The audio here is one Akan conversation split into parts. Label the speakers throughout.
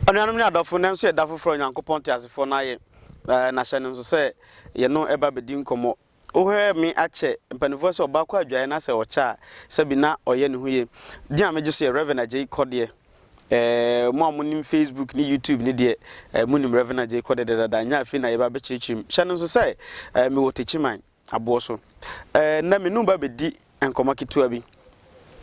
Speaker 1: Anuanom ne adɔfo, nnɛ nso yɛ da foforo a Onyankopɔn teasefoɔ no ayɛ, na N'ahyɛ no nso sɛ yɛno ɛba bɛdi nkɔmmɔ. Wohwɛɛ me akyɛ, mpaninfoɔ sɛ ɔbaa kɔ adwaeɛ na sɛ ɔkyɛ a, sɛbi na ɔyɛ ne ho ye. Din a megye so yɛ Rev. Agyei Kɔdeɛ. Ɛɛ, mo a monim Facebook ne YouTube no deɛ, ɛɛ monim Rev. Agyei Kɔdeɛ dɛdɛɛda. Ɛnyɛ afei na yɛba abɛkyerɛkyerɛ mu. Hyɛ no nso sɛ, ɛɛ mewɔ Techiman. aboɔ so. Ɛɛ, nnɛ me ne wo ba bɛdi nkɔmmɔ ketewa bi.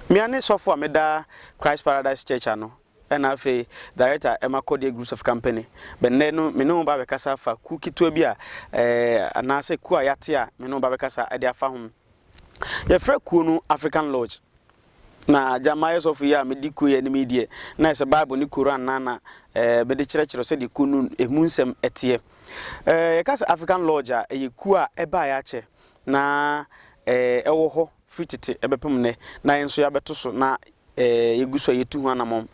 Speaker 1: Mea ne sɔfo a meda Christ Paradise Church ano ɛna afei Director ɛma Kɔdeɛ Groups of Company. Bɛnnɛ no me ne wo ba bɛkasa afa kuo ketewa bi a ɛɛ anaasɛ kuo a yɛate a me ne wo ba bɛkasa ɛde afa ho. Yɛfrɛ kuo no African Lodge. Na agya, mayɛ sɔfo yi a mede kuo yi anim yi deɛ, na ɛsɛ Bible ne Koran na na eh, mede kyerɛkyerɛ sɛdeɛ kuo no ɛmu nsɛm ɛteɛ. Eh, yɛka sɛ African Lodge a, ɛyɛ kuo a ɛbaeɛ akyɛ na eh, ɛwɔ hɔ firi tete ɛbɛpem nnɛ, na yɛn nso yɛabɛto so na eh, yɛgu so a yɛtu ho anamɔn.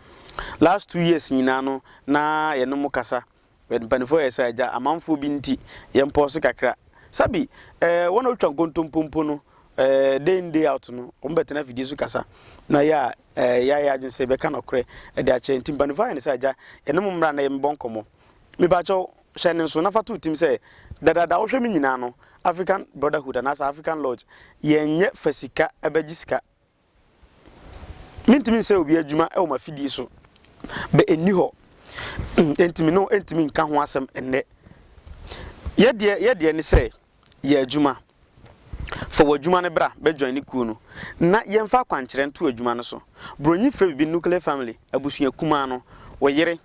Speaker 1: Last two years nyinaa no, na yɛne mo kasa Yɛn mpanimfoɔ yɛ saa agya, amanfoɔ bi nti yɛn pɔɔso kakra. Sabi, eh, wɔn a wɔtwa nkontompo mpo no, eh, day in day out no, wɔn bɛtena afidie so kasa. Na yɛ a, eh, yɛayɛ adwene sɛ yɛbɛka nɔkorɛ de akyerɛ. Nti mpanimfoɔ ayɛ no sɛ agya, yɛne mo mmra na yɛ mebɔ nkɔmmɔ. Mepakyɛw, hyɛ ne nso na fa to tim sɛ, dadaada wohwɛ me nyinaa no, African Brotherhood anaasɛ African Lodge, yɛnyɛ fa sika bɛgye sika Mentumi nsɛe obi adwuma wɔ m'afidie so. Bɛ nni hɔ. Enti me ne wo ntumi nka ho asɛm nnɛ. Yɛdeɛ yɛdeɛ ne sɛ yɛ adwuma. Fa w'adwuma no bra bɛ join ne kuo no na yɛmfa akwankyerɛ nto adwuma no so. Bronyi frɛ biribi nuclear family, abusua kumaa no, wo yere,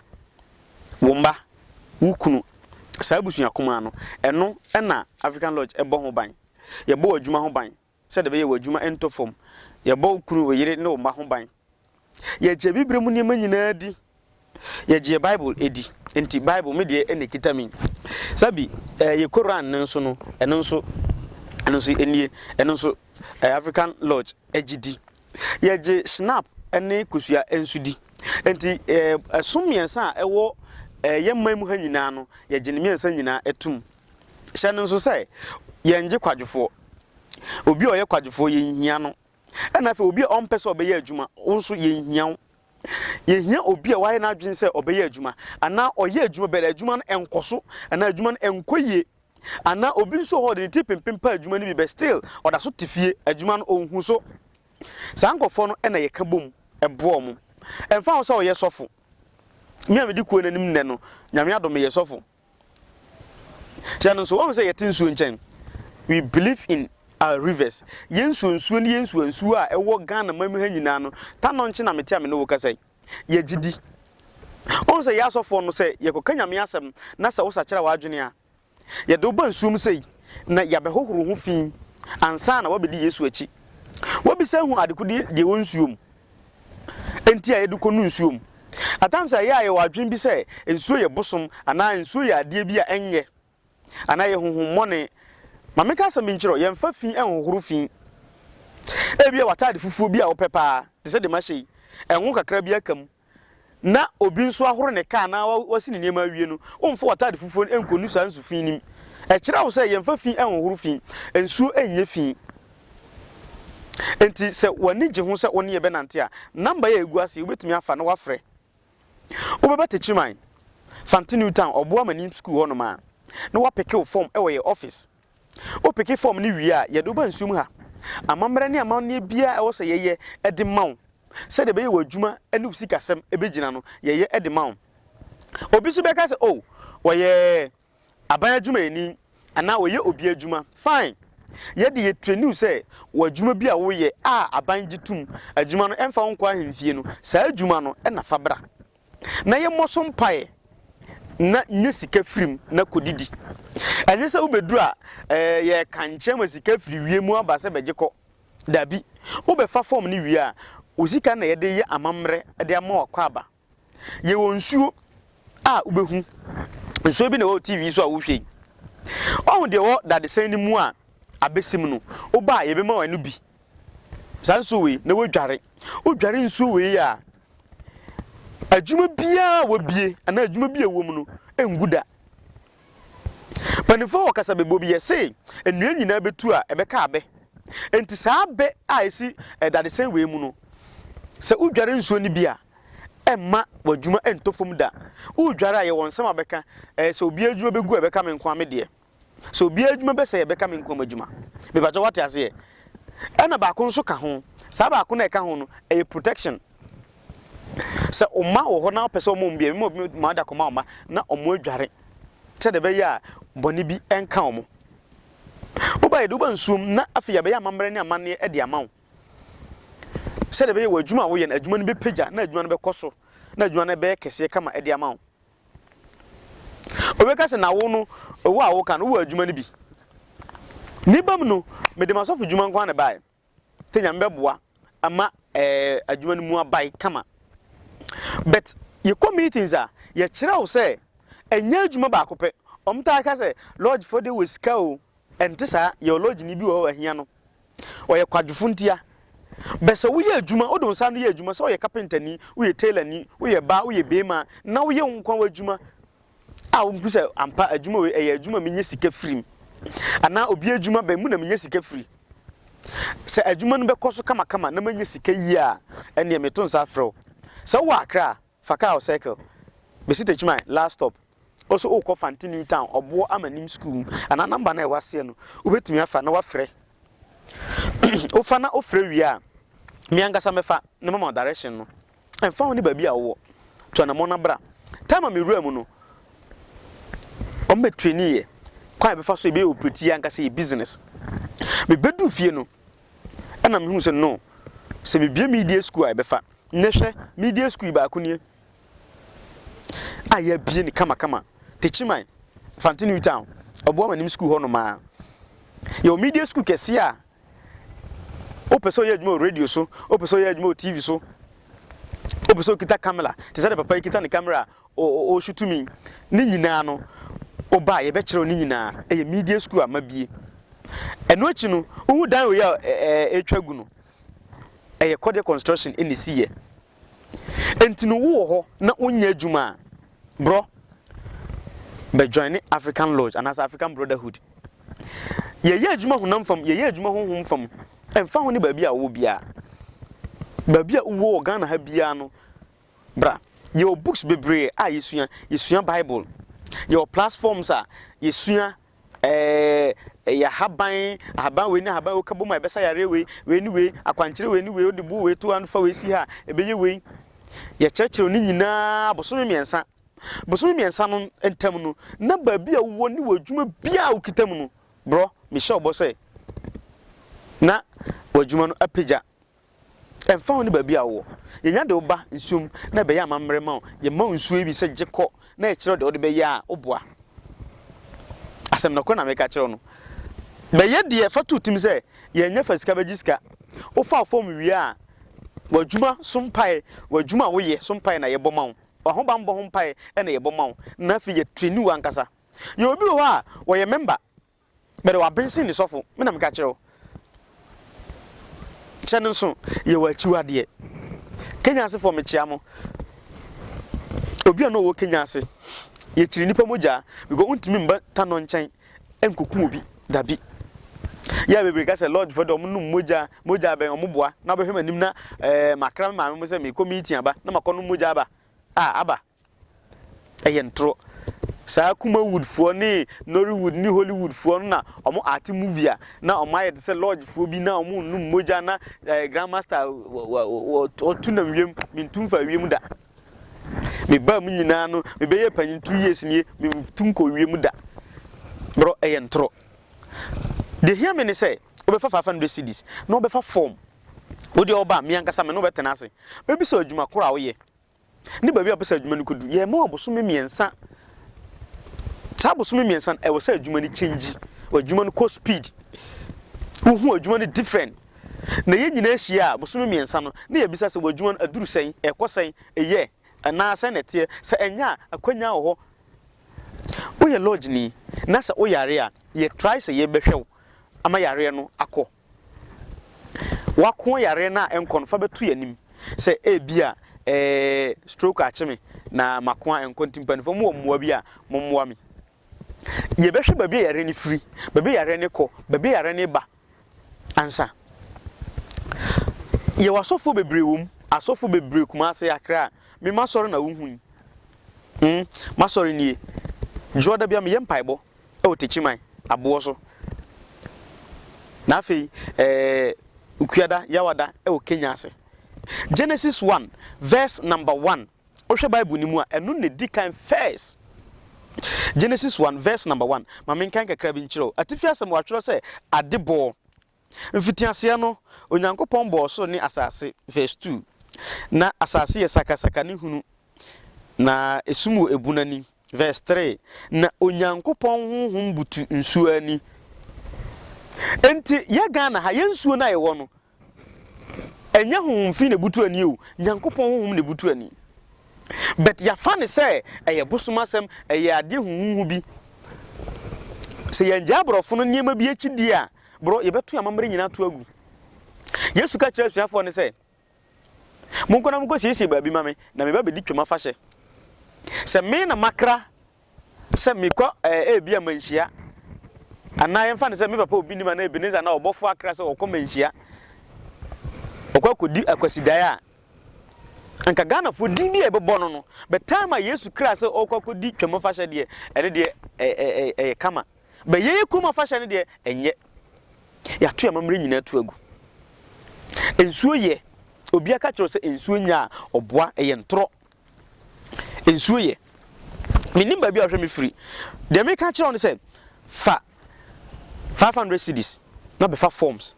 Speaker 1: wo mma, wo kunu, saa abusua kumaa no. Ɛno na African Lodge bɔ ho ban. Yɛbɔ w'adwuma ho ban. sɛdeɛ ɛbɛyɛ wo adwuma ntɔ fam. Yɛbɔ wo kunu, wo yere, ne wo mma ho ban. Yɛgye bibire mu nneɛma nyinaa di. Yɛgye yɛn Bible di. Enti Bible, me deɛ, na ɛkita me. Saa bi, eh, yɛn Koran no nso no, ɛno nso, ɛno nso nie, ɛno nso, eh, African Lodge gye di. Yɛgye Schnapp ne kosua nso di. Enti, eh, ɛsom mmiɛnsa a ɛwɔ eh, yɛn man mu ha nyinaa no, yɛgye ne mmiɛnsa nyinaa tom. Hyɛ no nso sɛ, yɛngye kwadwofoɔ. Obi a ɔyɛ kwadwofoɔ, yɛnhia no. Ɛna afei obi a ɔmpɛ sɛ ɔbɛyɛ adwuma, wo nso yɛnhia wo. Yɛhia obi a wayɛ n'adwene sɛ ɔbɛyɛ adwuma, anaa ɔyɛ adwuma bɛt adwuma no nkɔ so, anaa adwuma no nkɔ yie. Anaa obi nso wɔ hɔ ɔde ne ti pempem pa adwuma no bi bɛt still ɔda so te fie, adwuma no ɔnhu so. Saa nkorɔfoɔ no na yɛka bom boa wɔn. Ɛmfa ho sɛ ɔyɛ sɔfo. Me a medi kuo no anim nnɛ no, Nyame adom meyɛ sɔfo. Sɛ no nso, wahu sɛ yɛte nsuo nkyɛn. We believe in our rivers. Yɛn nsuo nsuo ne yɛn nsuo nsuo a ɛwɔ Ghana man mu ha nyinaa no, ta no nkye na mete a me ne wo kasa yi. Yɛgye di. Wohu sɛ yɛ asɔfoɔ no sɛ yɛkɔka Nyame asɛm na sɛ wosakyera w'adwene a, yɛde wo ba nsuo mu sei na yɛabɛhohoro ho fi ansa na woabɛdi Yesu akyi. Woabisa ahu adekodeɛ deɛ ɛwɔ nsuo mu. nti a yɛde kɔ nu nsuo mu. At times a yɛ a yɛwɔ adwene bi sɛ nsuo yɛ bosom anaa nsuo yɛ adeɛ bi a ɛnyɛ anaa ɛyɛ honhommɔne. Ma menka asɛm bi nkyerɛ wo, yɛmfa fi nhohoro fi. Ebia w'ataade fufuo bi a wopɛ paa, te sɛ deɛ mahyɛ yi, ngo kakra bi aka mu. na obi nso ahoro ne kaa anaa wasi ne nneɛma awie no, wommfa w'atade fufuo no nnkɔnu saa nsu fi no mu. Ɛkyerɛ wo sɛ yɛmmfa fi nnhohoro fi. Nsuo nyɛ fi. Enti sɛ w'ani gye ho sɛ wo ne yɛn bɛnante a, namba yi a ɛgu ase yi, wobɛtumi afa na woafrɛ. Wobɛba Techiman, Fante New Town, Ɔboa Amanim Sukuu hɔnom a, na woapeke wo fɔm wɔ yɛn ɔfis. Wopeke fɔm no wie a, yɛde wo ba nsuo mu ha. Amammerɛ ne amanneɛ biara a ɛwɔ sɛ yɛyɛ de ma wo sɛdeɛ ɛbɛyɛ w'adwuma ne wo sikasɛm bɛgyina no, yɛyɛ de ma wo. Obi nso bɛka sɛ, Oh, ɔyɛ aban adwumayɛni anaa ɔyɛ obi adwuma. Fine. Yɛde yɛtrɛni wo sɛ wɔ adwuma bi a woyɛ a aban gye tom adwuma no, ɛmfa wo nkɔ ahemfie no, saa adwuma no na fa bra. na yɛmmɔ so mpaeɛ na nya sika firi mu na kɔdidi. Ɛnyɛ sɛ wobɛduru a ɛɛ yɛreka nkyerɛ ma sika firi wiem aba sɛ bɛgye kɔ. Dabi, wobɛfa fɔm no wie a, wo sika na yɛde yɛ amammerɛ de ama wo akwaaba. Yɛwɔ nsuo a wobɛhu. Nsuo bi na ɛwɔ wo TV yi so a wohwɛ yi. Woahu deɛ ɛwɔ dadesɛn no mu a abɛsim no, woba a yɛbɛma wo ɛno bi saa nsuo wei na wadware wodware nsuo wei a adwuma biara a wabie anaa adwuma bi a ɛwɔ mu no ngu da mpanimfoɔ wɔ kasa bɛbɔ bi yɛ se nnua nyinaa bɛtu a ɛbɛka abɛ nti saa abɛ a ɛsi dadesɛn wei mu no sɛ wodware nsuo no bi a ɛmma w'adwuma ɛntɔ fam da wodware a yɛwɔ nsɛm a bɛka sɛ obi adwuma bɛgu a ɛbɛka me nko a me deɛ Sɛ obiara adwuma bɛsɛe a, ɛbɛka me nko ara m'adwuma. Mepatwa wate aseɛ? Ɛna baako nso ka ho. Saa baako no a ɛka ho no, ɛyɛ protection. Sɛ ɔma wɔ hɔ na ɔpɛ sɛ ɔma wɔn bi a, mema obi ma ɔde akɔma wɔn mma na wɔn adware. Sɛdeɛ ɛbɛyɛ a bɔne bi nka wɔn. Woba yɛ de woba nsuom na afei yɛabɛyɛ amammerɛ ne amanneɛ de ama wo. Sɛdeɛ ɛbɛyɛ wɔ adwuma a woyɛ no, adwuma no bɛpagya na adwuma no bɛkɔ so na adwuma no bɛyɛ kɛseɛ kama de ama wo. Obi ka sɛ, Na wo no, owu a woka no, wowɔ adwuma no bi? Ne bam no, mede m'asɔfodwuma nko ara na ɛbae. Sɛ Nyame bɛboa ma adwuma no mu abae kama. But yɛkɔ meetings a, yɛkyerɛ wo sɛ ɛnyɛ adwuma baako pɛ. Wɔtaa ka sɛ, Lodgefoɔ deɛ wɔ sika o. Ɛnte saa, yɛwɔ lodgeni bi wɔ hɔ a, wahia no. Ɔyɛ kwadwofo ntia. Bɛ sɛ woyɛ adwuma, wode wo nsa ano yɛ adwuma, sɛ woyɛ kapentani, woyɛ tailorni, woyɛ baa, woyɛ beema, na woyɛ wo nkwa w'adwuma a wuhu sɛ ampa adwuma wei, ɛyɛ adwuma a minya sika firi mu, anaa obi adwuma, bɛ mu na minya sika firi. Sɛ adwuma no bɛkɔ so kamakama na manya sika yiye a, ɛnneɛ meto nsa frɛ wo. Sɛ wowɔ akra a, Fa car wɔ circle besi Techiman last stop also wokɔ Fanti New Town Ɔboɔ Amanim School mu anaa number no a ɛwɔ aseɛ no wobɛtumi afa na wafrɛ wofa na wofrɛ wie a me ankasa mɛfa na mama wo direction no ɛmfa ho ne baabi a wowɔ tu anamɔ na bra time a mewura mu no wɔn bɛ traini yɛ kwan a yɛbɛfa so yɛbɛyɛ operate yɛ ankasa yɛ business mebɛduru fie no Ɛna mehuu sɛ no, sɛ mebue media sukuu a ɛbɛfa. Nnɛ hwɛ, media sukuu yi baako nie a yɛabue no kamakama. Techiman, Fante New Town, ɔboa m'anim sukuu hɔ nomaa. Yɛwɔ media sukuu kɛseɛ a wopɛ sɛ ɔyɛ adwuma wɔ radio so, wopɛ sɛ ɔyɛ adwuma wɔ TV so, wopɛ sɛ ɔkita camera, te sɛ de papa yi kita ne camera a O Ɔsu tumi ne nyinaa no Oba a yɛbɛkyerɛw ne nyinaa Ɛyɛ media school a mabie Ɛno akyi no wohu dan wei a ɛretwa agu no Ɛyɛ Kɔdeɛ Construction na ɛsiiɛ Enti no wowɔ hɔ na wonyɛ adwuma a Brɔ bɛ joine African Lodge anaasɛ African Brotherhood Yɛyɛ adwuma honam fam Yɛyɛ adwuma honhom fam Ɛmfa ho ne baabi a wowɔ biara Baabi a wowɔ wɔ Ghana ha biara no Bra. Yɛwɔ books bebree a yɛsua. Yɛsua Bible. Yɛwɔ platforms a yɛsua eh, ɛyɛ ahaban, ahaban wei ne ahaban wei wokabom a ɛbɛsa yareɛ wei, wei ne wei, akwankyerɛ wei ne wei, wode buu wei to ha no fa wei si ha a, ɛbɛyɛ wei. Yɛkyerɛkyerɛw ne nyinaa bosome mmiɛnsa. Bosome mmiɛnsa no ntam no, na baabi a wowɔ ne w'adwuma biara a wokita mu no, brɔ, mehyɛ wo bɔ sɛ na w'adwuma no apagya. Ɛmfa ho ne baabi a wowɔ, yɛnya de wo ba nsuo mu na ɛbɛyɛ amammerɛ ma wo. Yɛma wo nsuo yi bi sɛ gye kɔ na yɛkyerɛ wo deɛ wode bɛyɛ a woboa. Asɛm nɔkorɛ na meka kyerɛ wo no. Bɛyɛ deɛ fa to tim sɛ yɛnyɛ fa sika bɛgye sika. Wofa wo fɔm wie a, w'adwuma so mpaeɛ, w'adwuma a woyɛ so mpaeɛ na yɛbɔ ma wo. W'ahobammɔ ho mpaeɛ na yɛbɔ ma wo. Na afei yɛtreni wo ankasa. Yɛwɔ bi wɔ hɔ a wɔyɛ mɛmba Bɛde w'abensen ne sɔfo. Me na meka kyerɛ wo. Kyɛ no nso, yɛ w'akyiwadeɛ. Kenya asefoɔ, mekyea mo. Obi a na ɔwɔ Kenya ase, yɛkyiri nnipa mogya because wontumi mba tanɔ nkyɛn nkɔku obi dabi. Yɛ a bebree ka sɛ lodgefoɔ de wɔnom mogya, mogya bɛn wɔn boa na wobɛhwɛ m'anim na ɛɛ eh, makra me maame mo sɛ mekɔ meeting aba na makɔ nom mogya aba. Ah, aba. Ɛyɛ ntoro. Saa Kumawood foɔ ne Nollywood ne Hollywood foɔ no na ɔmo arte movie a na ɔmo ayɛ te sɛ lodge foɔ bi na ɔmo nnom mogya na eh, Grand Master ɔtu nam wiem, mentu mfa wiem da. Me baa mu nyinaa no, me bɛyɛ panyin two years nie, mentu nkɔ wiem da. Bro, ɛyɛ ntoro. Deɛ hia me ne sɛ, wobɛfa 500 cedis na wobɛfa form. Wo deɛ ɔba a, me ankasa me ne wo bɛtena ase. Mɛbisa wo adwuma koro a woyɛ, ne baabi a wɔpɛ sɛ adwuma no kɔdu. Yɛma wɔn abosome mmiɛnsa. Saa abosome mmiɛnsa no, ɛwɔ sɛ adwuma no kyɛngyi. Adwuma no kɔ speed. Wohu adwuma no different. Na yɛn nyinaa hyia a, bosome mmiɛnsa no, na yɛbisa sɛ, wɔ adwuma no, aduru sɛn? Ɛkɔ sɛn? Ɛyɛ? Anaa sɛn na ɛteɛ? Sɛ ɛnyɛ a, akwannya wɔ hɔ. Woyɛ lɔɔgyeni, na sɛ woyare a, yɛtrae sɛ yɛbɛhwɛ wo ama yareɛ no akɔ. W'ako yareɛ no a ɛnkɔ no fa bɛto y'anim sɛ ebia ɛɛ stroke akye me na m'ako a ɛnkɔ nti mpaninfoɔ mowɔ mmoa bi a mommoa me. Yɛbɛhwɛ baabi a yareɛ no firi, baabi a yareɛ no kɔ, baabi a yareɛ no ba ansa. Yɛwɔ asɔfoɔ bebree wɔ mu, asɔfoɔ bebree Kumase, Accra, me m'asɔre na wohu yi. Hmm, m'asɔre nie. Dwoɔ da bia meyɛ mpaebɔ. wɔ Takyiman aboɔ so, na afei ɛɛ Ukuada, Yawada wɔ Kenya ase. Genesis one verse number one, wohwɛ Bible no mu a, ɛno na ɛdi kan first. Genesis one verse number one, ma menkan kakra bi nkyerɛ wo. Atifi asɛm wɔatwerɛ sɛ, Ade bɔɔ. Mfitiaseɛ no, Onyankopɔn bɔɔ soro ne asase, verse two, na asase yɛ sakasaka ne hunu Na esum wɔ ebun ani. Verse three, Na Onyankopɔn honhom butu nsuo ani. Enti yɛ Ghana ha, yɛ nsuo no a yɛwɔ no, ɛnyɛ honhom fi na ebutu ani o, Nyankopɔn honhom na ebutu ani. But yɛafa ne sɛ ɛyɛ bosom asɛm, ɛyɛ adeɛ huhuhu bi. Sɛ yɛngyaa aborɔfo no nneɛma bi akyi di a, borɔ, yɛbɛto yɛn amammerɛ nyinaa ato agu. Yesu ka kyerɛ asuafoɔ no sɛ, Monkɔ na munkosiesie baabi mma me, na meba abedi Twam afahyɛ. Sɛ me na makra sɛ mekɔ ɛɛ ebia mmanhyia, anaa yɛmfa no sɛ me papa obi nim anaa Ebenezer anaa ɔbɔfo akra sɛ ɔkɔ mmanhyia, ɔkɔ akɔdi Akwasidae a, anka Ghanafoɔ din bi a yɛbɛbɔ no no, but time a Yesu kraa sɛ ɔrekɔ akɔdi Twam afahyɛ deɛ, ɛno deɛ ɛyɛ kama. Bɛyɛyɛ kurom afahyɛ no deɛ, ɛnyɛ. Yɛato yɛn amammerɛ nyinaa tu agu. Nsuo yɛ, obiara ka kyerɛ wo sɛ nsuo nyɛ a, ɔboa, ɛyɛ ntorɔ. Nsuo yɛ. Mennim baabi a wohwɛ me firi. Deɛ meka kyerɛ wo ne sɛ, fa 500 cedis na bɛfa forms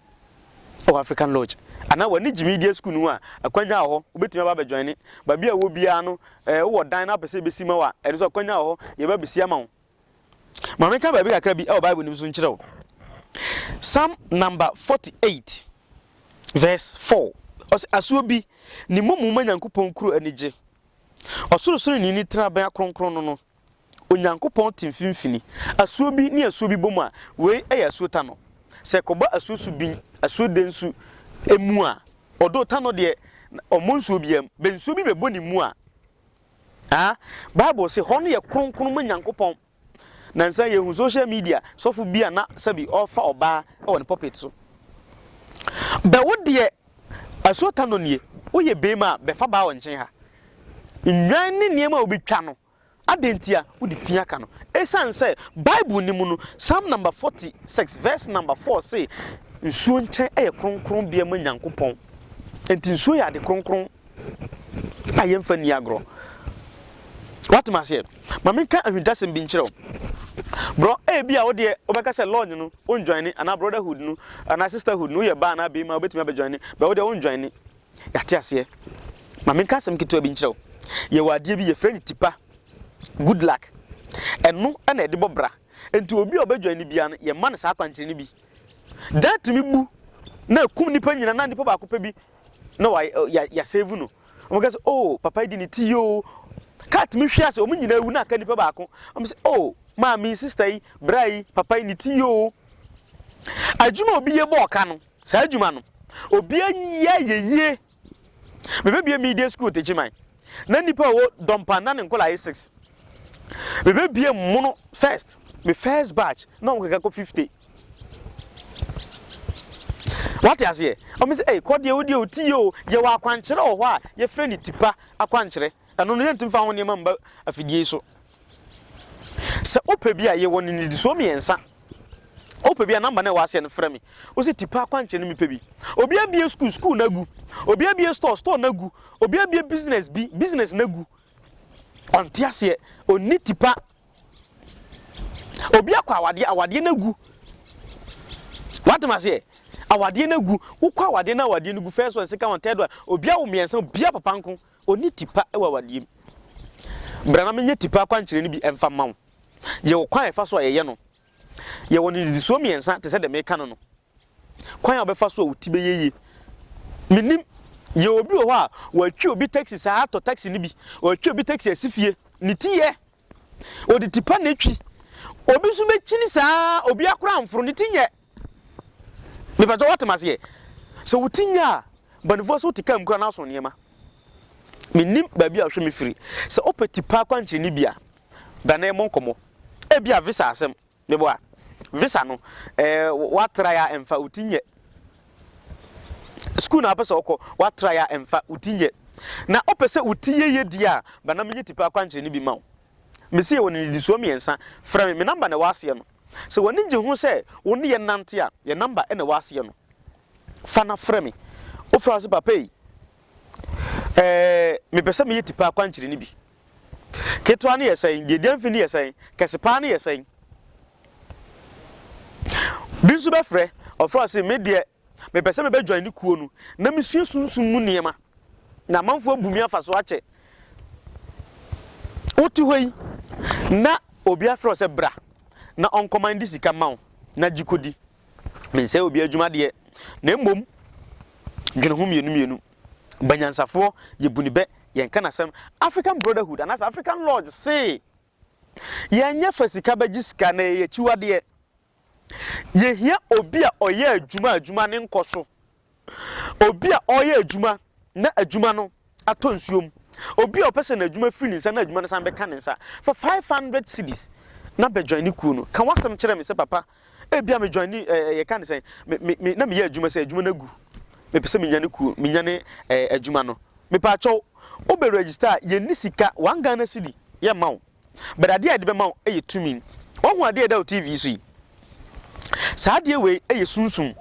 Speaker 1: wɔ African Lodge anaa w'ani gye media school no ho a, akwanya wɔ hɔ, wobɛtumi aba abɛjoine. Baabi a wowɔ biara no, eh, wowɔ dan na wopɛ sɛ yɛbɛsi ma wo a, ɛno nso akwanya wɔ hɔ, yɛbɛba abɛsi ama wo. Ma menka baabi kakra bi wɔ Bible no mu nso nkyerɛ wo. Psalm number 48 verse 4 ɔsɛ asuo bi ne mmɔmu ma Nyankopɔn kuro anigye. Ɔsorosoro ni ne tenabea kronkron no no. Onyankopɔn te mfimfini. Asuo bi ne asuo bi bom a, wei yɛ asuo tanɔ. Sɛ kɔbɔ asuo su bin, asuo den su mu a, ɔdo tanɔ deɛ ɔmmɔ nsuo biam. Bɛ nsuo bi bɛbɔ ne mu a, Aah bible se hɔ no yɛ kronkron ma Nyankopɔn na nsɛ yɛhu social media sɔfo bi a na sɛbi ɔrefa ɔbaa wɔ ne pulpit so. Bɛ wo deɛ asuo tano nie woyɛ beema a bɛfa baa ɔnkyen ha. Nnwan ne nneɛma a obi twa no adɛn ntia wode fi aka no ɛsiane sɛ bible no mu no Psalm number 46 verse number 4 se nsuo nkyɛn yɛ kronkron bea ma Nyankopɔn nti nsuo yɛ ade kronkron. a yɛmfa nni agorɔ watem aseɛ ma menka ahwintasɛm bi nkyerɛ wo borɔ ebi a wodeɛ wobɛka sɛ lodge no wondwane anaa brotherhood no anaa sisterhood no woyɛ baa anaa bɛima wobɛtumi abɛdwane bɛ wodeɛ wondwane yɛate aseɛ ma menka asɛm ketewa bi nkyerɛ wo yɛwɔ adeɛ bi yɛfrɛ no tipa good luck ɛno ɛna ɛde bɔ bra nti obi a ɔbɛdwane no bia no yɛma no saa akwankyerɛ no bi daa tumi bu na ɛkum nipa nyina na nipa baako pɛ bi na wa ya ya save no wɔn kɛ sɛ oh papa yi di ne ti yoo kaa tumi hwi ase wɔn nyinaa wu na aka nipa baako wɔn sɛ oh maame sista yi bra yi papa yi ne ti yoo adwuma obi yɛ bɔ ɔka no saa adwuma no obi yɛ yɛ yie mebɛbie media school tekyi man na nipa wɔ dɔmpa na ne nkɔla yɛ six mebɛbie mono first me first batch na wɔn kɛkɛ kɔ fifty. Wate aseɛ? Ɔmo sɛ ei kɔ deɛ wo deɛ ɔti yie o, yɛwɔ akwankyerɛ wɔ hɔ a yɛfrɛ no tipa akwankyerɛ, ɛno no yɛntumi mfa ho nneɛma mma afidie yi so. Sɛ wopɛ bi a yɛwɔ no nnidisoɔ mmiɛnsa, wopɛ bi a namba no a ɛwɔ aseɛ no frɛ me, wo sɛ tipa akwankyerɛ no mepɛ bi. Obi abie sukuu, sukuu no agu. Obi abie store, store no agu. Obi abie business bi, business no agu. Ɔnte aseɛ, ɔnni tipa Obi akɔ awadeɛ, awadeɛ no agu. Woatem aseɛ? Awadeɛ no agu. Wokɔ awadeɛ na awadeɛ no gu. First one, second one, third one. Obi awo mmiɛnsa, obiara papa nko. Ɔnni tipa wɔ awadeɛ mu. Bra na menyɛ tipa akwankyerɛ no bi mfa mma wo. Yɛwɔ kwan a yɛfa so a yɛyɛ no. Yɛwɔ no nnidisoɔ mmiɛnsa te sɛ deɛ meka no no. Kwan a ɔbɛfa so a wo ti bɛyɛ yie, mennim. Yɛ obi wɔ hɔ a, watwi obi taxi saa, atɔ taxi no bi, watwi obi taxi asi fie, ne ti yɛ. Ɔde ti pa na ɛtwi. Obi nso bɛkyini saa, obiara koraa amforo, ne ti nyɛ. Mepatɔ woate me aseɛ. Sɛ wo ti nyɛ a, banifoɔ sɛ wote kaa mu koraa na aso nneɛma. Mennim baabi a wohwɛ me firi. Sɛ wopɛ ti pa akwankyerɛ no bi a, bra na yɛmmɔ nkɔmmɔ. Ebia visa asɛm, Meboa. Visa no eh wa try a ɛnfa wo ti nyɛ. School na wopɛ sɛ wokɔ wa try a ɛnfa wo ti nyɛ. Na wopɛ sɛ wo ti yɛ yɛ die a bra na menyɛ tipa akwankyerɛ no bi ma wo. Mesi yɛwɔ no nnidisoɔ mmiɛnsa. Frɛ me, me number na ɛwɔ aseɛ no. Sɛ w'ani gye ho sɛ wo ne yɛn nante a, yɛn number na ɛwɔ aseɛ no. Fa na frɛ me. Wofrɛ a wo se papa ei eh mepɛ sɛ meyɛ tipa akwankyerɛ no bi. Ketewa no yɛ sɛn? Deɛ ɛdi amfi no yɛ sɛn? Kɛse paa no yɛ sɛn? Bi nso bɛfrɛ, ɔfrɛ ɔse, me deɛ mepɛ sɛ mebɛ join ne kuo no na mesua sunsum mu nneɛma na amanfoɔ abu me afa so akyɛ. Wote hɔ yi na obi afrɛ wo sɛ bra na ɔnkɔman de sika ma wo na gye kɔdi. Mensɛe obi adwuma deɛ na mmom dwene ho mmienu mmienu. Banyansafoɔ yɛbu ne bɛ yɛnka no asɛm African brotherhood anaasɛ African lodge se yɛnyɛ fa sika bɛgye sika na ɛyɛ akyiwadeɛ yɛhia obi a ɔyɛ adwuma adwuma ne nkɔ so obi a ɔyɛ adwuma na adwuma no atɔ nsuo mu obi a ɔpɛ sɛ n'adwuma firi ne nsa na adwuma no san bɛka ne nsa for 500 cities na bɛdwan ne kuo no ka wasɛm kyerɛ me sɛ papa Ebia me joini ɛɛ eh, yɛka ne sɛn, me, me, me, na meyɛ adwuma sɛ adwuma no agu. Mepɛ sɛ menyane kuo, menyane ɛɛ eh, adwuma no. Mepaakyɛw, wobɛ register a, yɛnni sika, one Ghana cedi, yɛmma wo. But adeɛ a yɛde bɛma wo yɛ tumi. Wahu adeɛ a ɛda wo TV so yi? Saa adeɛ wei yɛ sunsum.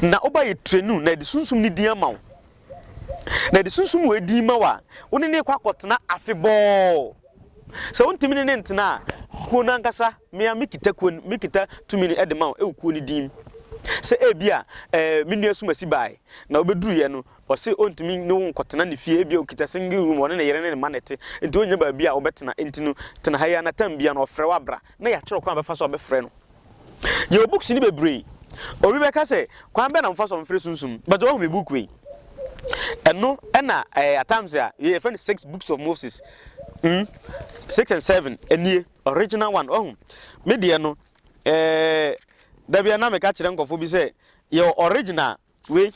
Speaker 1: Na woba yɛ trenu, na yɛde sunsum no din ama wo. Na yɛde sunsum wei din ma wo a, wo ne ne kɔ akɔtena afebɔɔ. Sɛ wontumi ne no ntena a, kuo no ankasa, me ara mekita kuo no, mekita tumi no de ma wo wɔ kuo no din mu. Sɛ ebia ɛɛ me nua Sumasi bae na ɔbɛduruiɛ no, ɔse ɔntumi ne wo nkɔtena ne fie, ebia ɔkita single room a ɔne ne yere ne ne mma na ɛte, nti ɔnnya baabi a ɔbɛtena, nti no tena ha yi ara na tam biara no ɔfrɛ wo abra na yɛakyerɛ wo kwan a wobɛfa so abɛfrɛ no. Yɛwɔ books no bebree. Obi bɛka sɛ, kwan bɛn na mofa so a mofrɛ sunsum? But wahu me book wei? Ɛno ɛna ɛɛ at times a yɛfrɛ no six books of Moses. Mm, six and seven, ɛnie, original one, wahu? Me deɛ no, ɛɛ, da bi a na meka kyerɛ nkɔfo bi sɛ, yɛwɔ original, Wei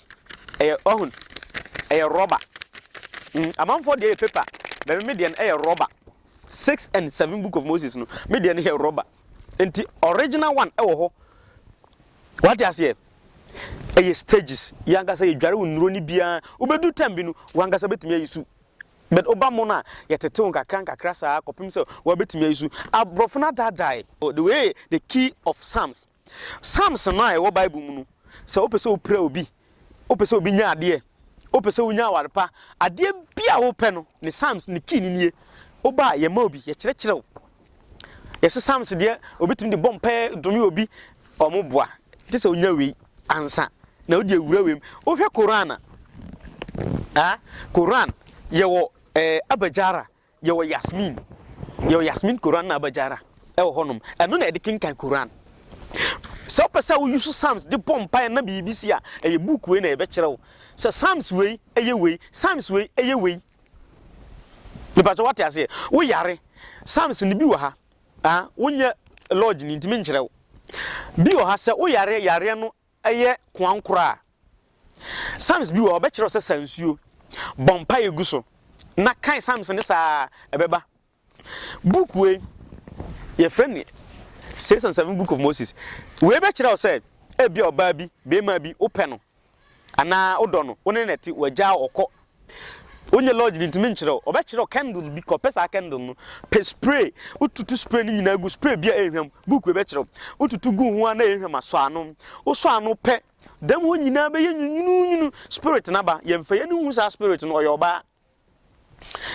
Speaker 1: ɛyɛ ɔhun ɛyɛ rɔba mm amanfoɔ deɛ yɛ paper bɛmi mi deɛ no ɛyɛ rɔba six and seven book of moses no mi deɛ no yɛ rɔba nti original one ɛwɔ hɔ wate aseɛ ɛyɛ stages yankasa yɛ dware wo nnuro ni biara wobɛdu time bi no wankasa bɛtumi ayi su but oba mo no a yɛtetew nkakra nkakra saa kɔpem sɛ wɔbɛtumi ayi su aborɔfo no adadae oh, the way the key of psalms Psalms no a ɛwɔ Bible mu no, sɛ wopɛ sɛ wopira obi, wopɛ sɛ obi nya adeɛ, wopɛ sɛ wonya aware pa, adeɛ bi a wopɛ no, ne Psalms ne kii no nie. Woba a, yɛma obi, yɛkyerɛkyerɛ wo. Yɛse Psalms deɛ, obi tumi de bɔ mpaeɛ dome obi, wɔn boa. Gye sɛ wonya wei ansa na wode awura wei mu. Wohwɛ Koran a, ah, Koran yɛwɔ eh, Abajara, Yɛwɔ Yasmeen, yɛwɔ Yasmeen Koran na Abajara ɛwɔ hɔ nom. Ɛno na yɛde kenkan Koran. Sɛ wopɛ sɛ wo use Psalms de bɔ mpaeɛ na biribi si a, ɛyɛ book wei na yɛbɛkyerɛ wo. Sɛ Psalms wei ɛyɛ wei, Psalms wei ɛyɛ wei. Nipa sɛ wate aseɛ, wo yare, Psalms no bi wɔ ha. Ah, wonyɛ lodge ni nti menkyerɛ wo. Bi wɔ ha sɛ wo yare, yareɛ no ɛyɛ koankora a, Psalms bi wɔ hɔ, ɔbɛkyerɛ wo sɛ sa nsuo, bɔ mpaeɛ gu so, na kae Psalms no saa ara, ɛbɛba. Book wei, yɛfrɛ no Six and Seven Book of Moses. Wei bɛkyerɛ wo sɛ, ebia ɔbaa bi, barima bi, wopɛ no, anaa wodɔ no, wo ne no na ɛte, wagyaa wo, ɔkɔ. Wonyɛ lodge no, ntumi nkyerɛ wo. Ɔbɛkyerɛ wo candle bi, kɔpɛ saa candle no, pɛ spray, wotutu spray no nyinaa gu, spray bi a ɛnhwam, book wei bɛkyerɛ wo. Wotutu gu ho ara na ɛnhwam a, sɔ ano. Wosɔ ano pɛ Dɛm hɔ nyina bɛyɛ nwununwunu spirit naba yɛnfa yɛni nhu saa spirit no ɔyɛ ɔbaa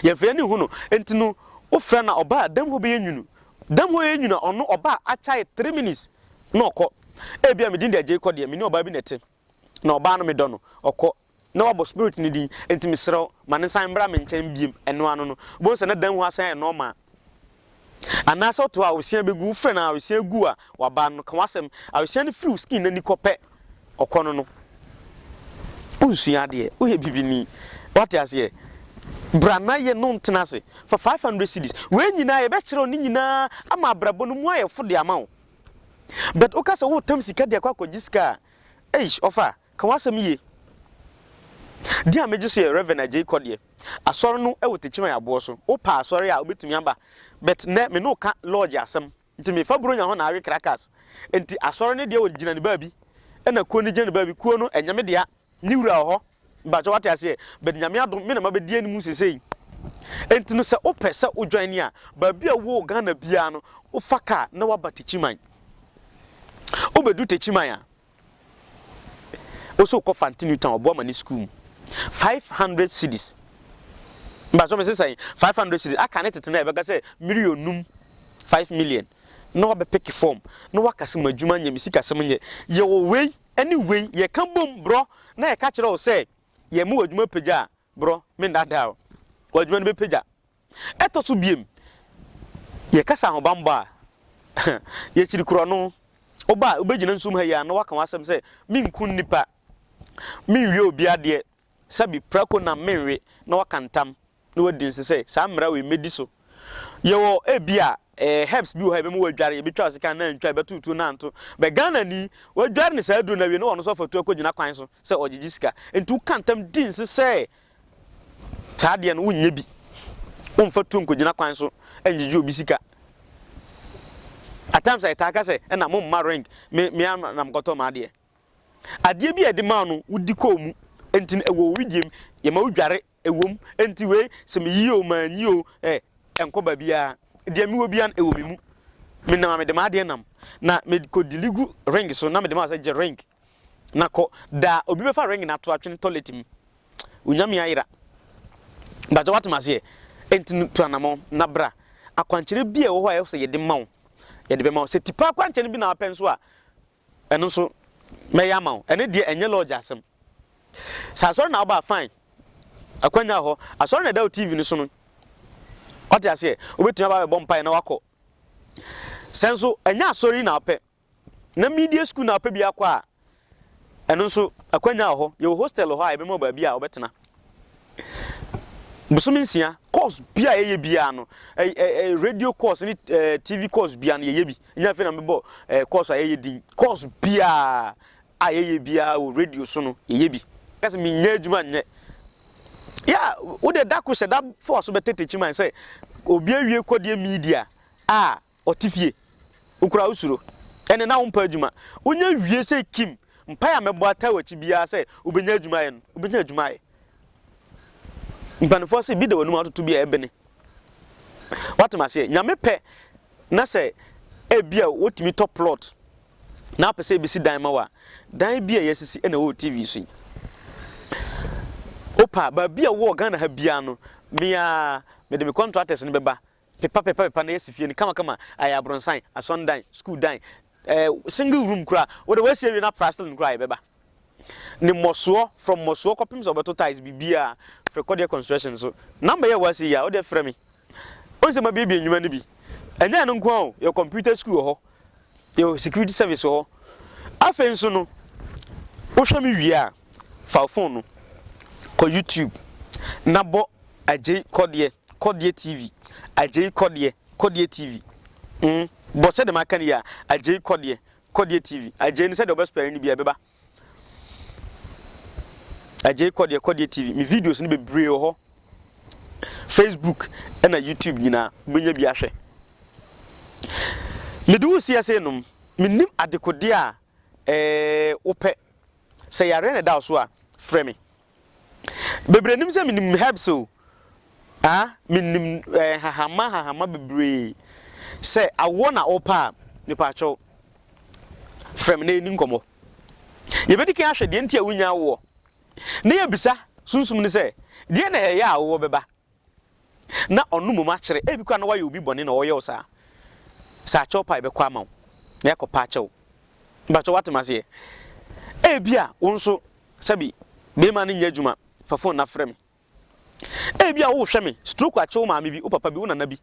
Speaker 1: yɛnfa yɛni nhu no nti no wofrɛ na ɔbaa dɛm hɔ bɛyɛ nwunu dɛm hɔ yɛ nwunu ɔno ɔbaa akyae three minutes na ɔkɔ ebia medin de agyei kɔ deɛ mene ɔbaa bi na ɛte na ɔbaa no medɔ no ɔkɔ na wabɔ spirit no din nti mesrɛ wo ma no nsan mbra me nkyɛn biom ɛno ano no wobɛhu sɛ na dan mu hɔ asan ayɛ normal anaa sɛ woto a awesea bɛgu wofrɛ no a awesea gu a waba no ka wasɛm awesea no firi wo skin no ani kɔ pɛ ɔkɔ no no wonsua adeɛ woyɛ bibini wate aseɛ bra na yɛ no ntena ase fa 500 cities wei nyinaa yɛbɛkyerɛ wo ne nyinaa ama abrabɔ no mu ayɛ fo de ama wo but woka sɛ woretam sika de akɔ akɔgye sika a Eish ɔfa, ka w'asɛm yie. Deɛ a megye so yɛ Rev Adjei kɔ deɛ. Asɔre no wɔ Techiman aboɔ so. Wo pɛ asɔre a wobɛtumi aba but nnɛ me ne wo ka lodge asɛm nti me fa Buronya hɔ na awe Krakas nti asɔre no deɛ wɔ gyina ne baabi ɛna kuo no gyina ne baabi kuo no ɛnyɛ me dea ne wura wɔ hɔ. Mpakyɛw wate aseɛ but Nyame adom me na mabɛdi anim sesei nti no sɛ wopɛ sɛ wo join a baabi a wowɔ wɔ Ghana biara no wofa car na waba Techiman wobɛduru Techiman a wosɛ wokɔ Fante New Town ɔboa ma ne school mu 500 cedis mpakyɛw me sesɛn 500 cedis aka ne tete na ɛbɛka sɛ million num 5 million na wabɛpeke form na waka sɛ madwuma nyɛ me sikasɛm nyɛ yɛwɔ wei Ɛne wei, yɛka bom borɔ na yɛka kyerɛ wo sɛ, Yɛma w'adwuma pagya a, borɔ, mennaadaa wo, w'adwuma no bɛpagya. Ɛtɔ so bio, yɛkasa ahobammɔ a, yɛkyiri korɔno. Woba a, wobɛgyina nsuom ha yi ara na woaka w'asɛm sɛ, Menku nnipa, menwie obi adeɛ, sɛbe prako nam menwe, na woaka ntam. na wadi nse sɛ saa mmara wei mɛdi so. Yɛwɔ ebia eh, herbs bi wɔ hɔ a yɛbɛma wɔadware, yɛbɛtwa ɔsekan na antwa, yɛbɛto tuo na anto. Bɛ Ghana ni, wɔadware no saa aduro no awie na ɔno nso afa tuo akɔgyina kwan so sɛ ɔregyegye sika. Enti woka ntam di nse sɛ saa adeɛ no wonyɛ bi, womfa tuo nkɔgyina kwan so ngyegye obi sika. At times a yɛtaa ka sɛ ɛna momma ring, me, me ara na mekɔtɔ m'adeɛ. Adeɛ bi a yɛde maa no wodi kɔɔ mu nti no ɛwɔ wo wedeɛ mu, yɛma wo dware ɛwɔ mu nti wei sɛ meyi oo manyi oo ɛ ɛnkɔ baabiara deɛ mewɔ biara no ɛwɔ me mu me nam a mede m'adeɛ nam na mekɔ dili gu ring so na mede ma sɛ gye ring na kɔ da obi bɛfa ring no ato atwene toilet mu onyame ayera bàtɛ wate m'aseɛ nti no tu anamɔ na bra akwankyerɛ bi a ɛwɔ hɔ a ɛwɔ sɛ yɛde ma wo yɛde bɛma wo sɛ tipa akwankyerɛ no bi na wapɛ nso a Ɛno nso mɛyɛ ama wo. Ɛno deɛ ɛnyɛ lodge asɛm. Sɛ asɔre na woba a fine. Akwanya wɔ hɔ. Asɔre na ɛda wo TV no so no. Wate aseɛ? Wobɛtumi aba abɛbɔ mpaeɛ na woakɔ. Sɛ nso ɛnyɛ asɔre yi na wopɛ, na media school na wopɛ bi akɔ a, ɛno nso akwanya wɔ hɔ. Yɛwɔ hostel wɔ hɔ a yɛbɛma wo baabi a wobɛtena. Bosome nsia, course bi a yɛyɛ biara no, radio course ne TV course biara no yɛyɛ bi. Ɛnyɛ afei na mebɔ eh, course a ɛyɛ din. Course biara a yɛyɛ biara wɔ radio so no, yɛyɛ bi. Ka sɛ menyɛ adwuma nyɛ. Yeah, wo deɛ da ko hyɛ da fa w'aso bɛtete kyiman sɛ obi awie kɔdeɛ media a ɔte fie. Wokura wo suro. Ɛne na wompɛ adwuma. Wonya wie sɛ Kim, mpae a mɛbɔ ataa w'akyi biara sɛ wobɛnya adwuma ayɛ no, wobɛnya adwuma ayɛ. Mpaninfoɔ se bi da w'anum atoto bi a ɛbene. Wate maseɛ? Nyame pɛ na sɛ ebi a wotumi tɔ plot na apɛ sɛ ebesi dan ma wo a, dan bi a yɛasisi na ɛwɔ TV so yi. Wopa a, baabi a wowɔ Ghana ha biara no, me ara mede me contractors no bɛba pepa pepa pepa na yɛasi fie no kama kama, ayɛ abronsan, asɔn dan, school dan, eh, single room koraa, wode w'asi awie na aprastle no koraa yɛbɛba. ne mmɔsoɔ from mmɔsoɔ kɔpem sɛ ɔbɛto tiles biribiaa frɛ kɔdeɛ construction so number yɛ wasi yi a wodeɛ frɛ me wohu sɛ mabiebie nnwuma no bi ɛnyɛ ɛno nko a o yɛ computer school wɔ hɔ yɛ security service wɔ hɔ afei nso no wohwɛ me wie a fa phone no kɔ youtube na bɔ agyei kɔdeɛ kɔdeɛ tv agyei kɔdeɛ kɔdeɛ tv mm. bɔ sɛ dɛm aka no yi a agyei kɔdeɛ Kɔdeɛ TV, Agyei no sɛdeɛ ɔbɛspɛre no biara ɛbɛba. Agyei Kɔdeɛ, Kɔdeɛ TV, me videos no bebree wɔ hɔ. Facebook ɛna YouTube nyinaa wobɛnya bi ahwɛ. Mede wo si ase nom, menim adekodeɛ a ɛɛ wopɛ. Sɛ yareɛ na ɛda wo so a, frɛ me. Bebree nim sɛ menim herbs o. Ah, menim eh, nhahama nhahama bebree. Sɛ awoɔ na wopɛ a, mepaakyɛw. Frɛ me na yɛni nkɔmmɔ. Yɛbɛdi kan ahwɛ deɛ nti a wonya awoɔ. Na yɛbisa sunsum no sɛ, deɛ na ɛyɛ a awoɔ bɛba? na ɔno mmom akyere. Ebi koraa na wayɛ obi bɔne na ɔreyɛ wo saa. Sɛ akyɛw pa a, yɛbɛkɔ ama wo, na yɛakɔpa akyɛw. Mpakyɛw woate me aseɛ? Ebi a wo nso sɛbi barima no nyɛ adwuma, fa fon no na frɛ me. Ebi a wohwɛ me, stroke akye wo maame bi, wo papa bi, wo nana bi,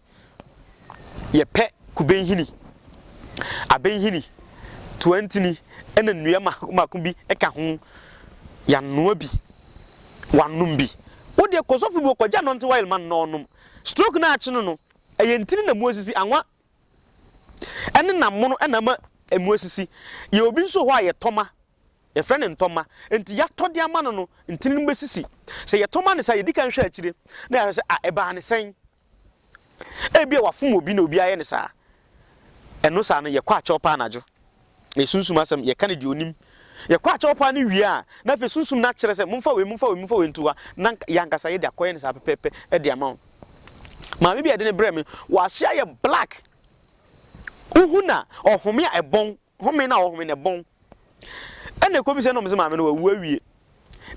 Speaker 1: Yɛpɛ kube nhini, abɛ nhini, toa ntini na nnua mako mako bi ka ho. Yɛanoa bi, wɔanom bi. Wo deɛ kɔ sɔfo bi hɔ kɔgye anointing oil ma no na ɔnom. Stroke no a akye no no, ɛyɛ ntini na mu asisi, anwa ne nam mono na ama mu asisi. Yɛwɔ bi nso wɔ hɔ a yɛtɔ ma. Yɛfrɛ no ntɔmma. Enti yɛatɔ de ama no no, ntini no bɛsisi. Sɛ yɛtɔ ma no saa a, yɛdi kan hwɛ akyire na yɛahwɛ sɛ, a ɛbaa no sɛn? Ebia wafom obi na obi ayɛ no saa. Ɛno saa no, yɛkɔ akyɛw paa anadwo, na yɛsunsum asɛm, yɛka no deɛ ɔnim. Yɛkɔ akyɛw paa no wie a, na afei sunsum no akyerɛ sɛ, momfa wei, momfa wei, momfa wei nto hɔ a, na yɛn ankasa yɛde akɔyɛ no saa pɛpɛɛpɛ de ama wo. Maame bi a yɛde no brɛɛ me, wahyɛ ayɛ black. Wohu no a, ɔhome a ɛbɔn. Home no a wɔhome no, ɛbɔn. Ɛnna ɛkɔdu sɛ na wɔn sɛ maame no wawu awie,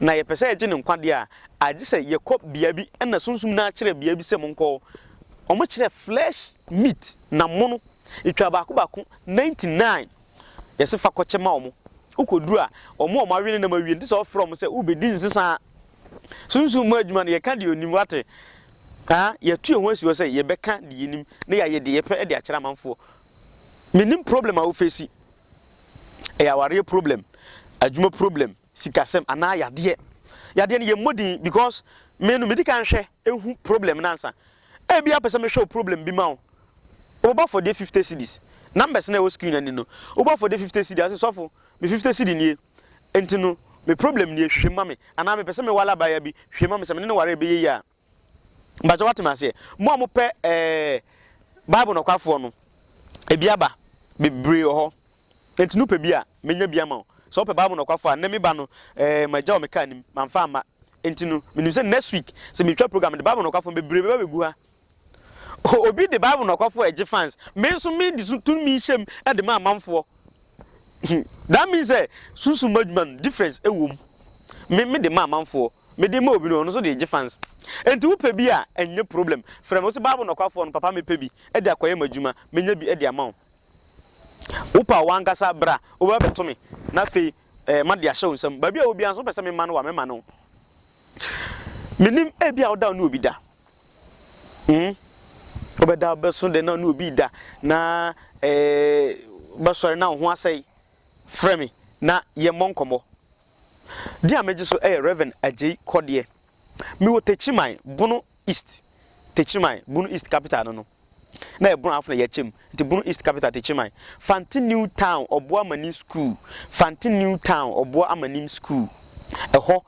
Speaker 1: na yɛpɛ sɛ yɛgye no nkwa deɛ a, agye sɛ yɛkɔ bea bi na Sunsum no akyerɛ bea bi sɛ monkɔ hɔ. Wɔkyerɛɛ flesh meat, na mono. Yɛtwaa baako baako, ninety nine. Yɛse fa kɔkyɛ ma wɔn. Wokɔduru a, wɔn a wɔawe ne nam awie no, te sɛ wofrɛ wɔn sɛ wobɛdi nsesa. Sunsum mu adwuma no, yɛka deɛ ɔnim, woate? Haa, yɛatu yɛn ho asi hɔ sɛ yɛbɛka deɛ yɛnim na yɛayɛ deɛ yɛpɛ de akyerɛ amanfoɔ. Menim problem a wo face, ɛyɛ awareɛ problem, adwuma problem, sikasɛm anaa yadeɛ. Yadeɛ no yɛ mmɔ din because me no medi kan hwɛ hu problem no ansa. Ɛbia wopɛ sɛ mehwɛ wo problem bi ma wo, wobɛbɔ afɔdeɛ fifty cedis, numbers no a ɛwɔ screen anim no, wobɔ afɔdeɛ fifty cedi ase sɔfo me fifty cedi nie, nti no me problem nie hwehwɛ mu ma me anaa mepɛ sɛ mewale abaayewa bi hwehwɛ mu ma me sɛ me ne no ware ɛbɛyɛ yie a. Mpakyɛw wate me aseɛ? Mo a mopɛ ɛɛ Bible nɔkwafoɔ no, ebi aba, bebree wɔ hɔ. Enti no pɛ bi a, menya bi ama wo. Sɛ wopɛ Bible nɔkwafoɔ a, nnɛ me ba no, ɛɛ magya wɔ me kaa nim, mamfa amma. Enti no, menim sɛ next week, sɛ metwa program no de Bible nɔkwafoɔ no, bebree bɛba bɛgu ha. O, obi de Bible nɔkwafoɔ a ɛgye fans, me nso mede so tumi yi hyɛm de ma amanfoɔ. Hmm, that means sɛ, sunsum mu adwuma no, difference wom. Me, mede ma amanfoɔ. Mede ma obi no ɔno nso de gye fans enti wo pɛ bi a ɛnyɛ problem frɛ me wo se bible nɔkwafoɔ no papa me pɛ bi de akɔyɛ m'adwuma menya bi de ama wo wo pa wo ankasa bra wo bɛ bɛto me na afei eh, ma de ahyɛ wo nsam baabi a wo biara nso pɛ sɛ me ma no wa me ma no menim ebi a wo da ne obi da hmm wo bɛ da bɛ so de na ne obi da na eh bɛ sɔre na wo ho asɛe frɛ me na yɛmmɔ nkɔmmɔ. Din a megye so yɛ Rev. Agyei Kɔdeɛ. Mewɔ Techiman, Bono East. Techiman, Bono East capital no no, na yɛ Bono Afena Yacha mu, nti Bono East capital Techiman. Fante New Town Ɔboɔ Amanim School, Fante New Town Ɔboɔ Amanim School, ɛhɔ